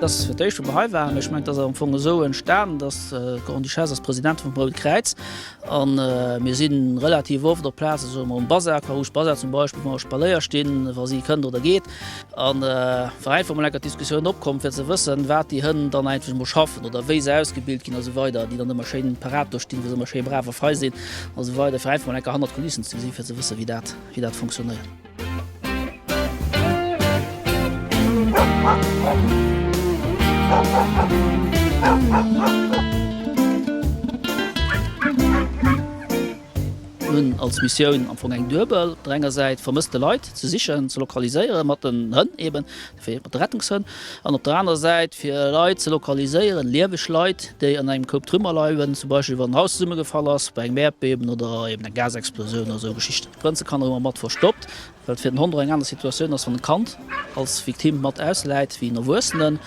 Dass fir d'éischt wou mer hei waren, ech mengen dass am Fong esou entstanen, dass d'Grande-Duchesse ass Presidentin vum Roud Kräiz an mir si relativ oft op Plaze soe mer um Basar, Carouge Basar zum Beispill, wou mer Spaléier stinn, wa si kënnt oder geet. An wa einfach mol enker d'Diskussioun opkomm fir ze wëssen, wat déi Hënn dann eigentlech mol schaffen oder wéi se ausgebilt ginn a sou weider, déi dann ëmmer schéin parat do stinn, wou se ëmmer schéi brav a fei sinn a sou weider, fir einfach mol enker hannert d'Kulissen ze gesinn, fir ze wëssen, wéi dat, wéi dat funktionéiert. Mir hunn als Missioun am Fong eng duebel, op der enger Säit vermësste Leit ze sichen, ze lokaliséieren, mat den Hënn eben, dofir mat de Rettungshënn, an op der anerer Säit fir Leit ze lokaliséieren, lieweg Leit, déi an engem Koup Trümmer leien, zum Beispill wann en Haus zesummegefall ass bei engem Äerdbeben oder eben eng Gasexplosioun oder esou Geschichten. D'Prinzekanner hu mer mat verstoppt. Well et fir den Hond och eng aner Situatioun ass, wann en Kand als Victime mat ausläit, wéi en Erwuessenen.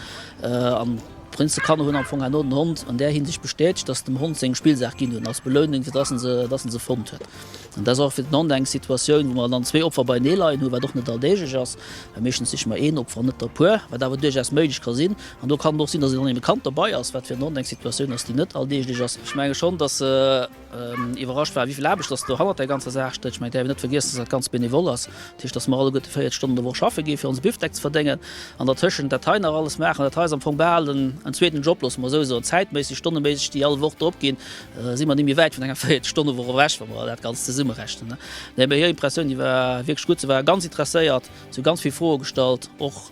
An d'Prinze Kanner hunn am Fong herno den Hond an där Hinsicht bestätegt, datt se dem Hond seng Spillsaach ginn hunn, als Belounung, fir datt en se, datt en se fonnt huet. An dat ass och fir den Hond eng Situatioun, wou mer dann zwee Opfer beienee leien hunn, wat och net alldeeglech ass, well meeschtens siche mer een Opfer an net der Puer, wat awer duerchaus méiglech ka sinn. An do kann et och sinn, datt een dann eben e Kand dobei ass, wat fir den Hond eng Situatioun ass, déi net alldeeglech ass. Ech menge schonn, datt. iwwerrascht war, wéi vill Aarbecht dass do hannert där ganzer Saach stécht. Ech mengen, et däerf een net vergiessen, dass dat ganz benevol ass. Dat heescht, dass mer alleguerte 40 Stonnen d'Woch schaffe gi fir onse Bifdeck ze verdéngen an dertëschent dat hei nach alles maachen. Dat hei ass am Fong bal en zweeten Job, loosse mer esou soen. Zäitméisseg, stonneméisseg, déi all Woch drop ginn, si mer ni méi wäit vun enger 40 Stonne Woch ewech, wa mer dat Ganzt zesummerechnen. Nee, mee hir Impressioun, déi war wierklech gutt. Se war ganz interesséiert, si hu ganz vill Froe gestallt och.